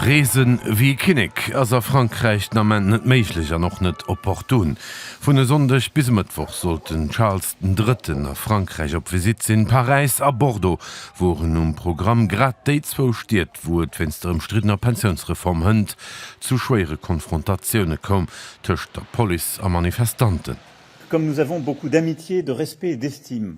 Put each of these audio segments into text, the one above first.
Reesen wéi e Kinnek ass a Frankräich den Ament net méiglech an och net opportun. Vun e Sonndeg bis e Mëttwoch sollt den Charles den Drëtten a Frankräich op Visitt sinn. Paräis a Bordeaux woren um Programm, grad déi zwou Stied, wou et wéinst der ëmstriddener Pensiounsreform hënt zu schwéiere Konfrontatioune koum tëscht der Police a Manifestanten. Comme nous avons beaucoup d'amitié, de respect et d'estime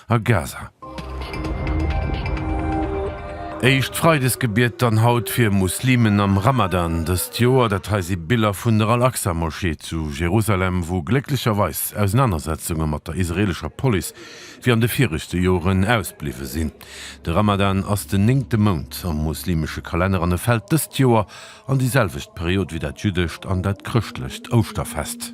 a Gaza. Éischt Freidesgebiet dann haut fir Muslimen am Ramadan dëst Joer. Dat hei si Biller vun der Al-Aqsa-Moschee zu Jerusalem, wou glécklecherweis Ausenanersetzunge mat der israeelescher Police wéi an de viregte Joren ausbliwwe sinn. De Ramadan ass den néngte Mount am muslimesche Kalenner an e fält dëst Joer an déi selwecht Period wéi dat jüddescht an dat chrëschtlecht Ouschterfest.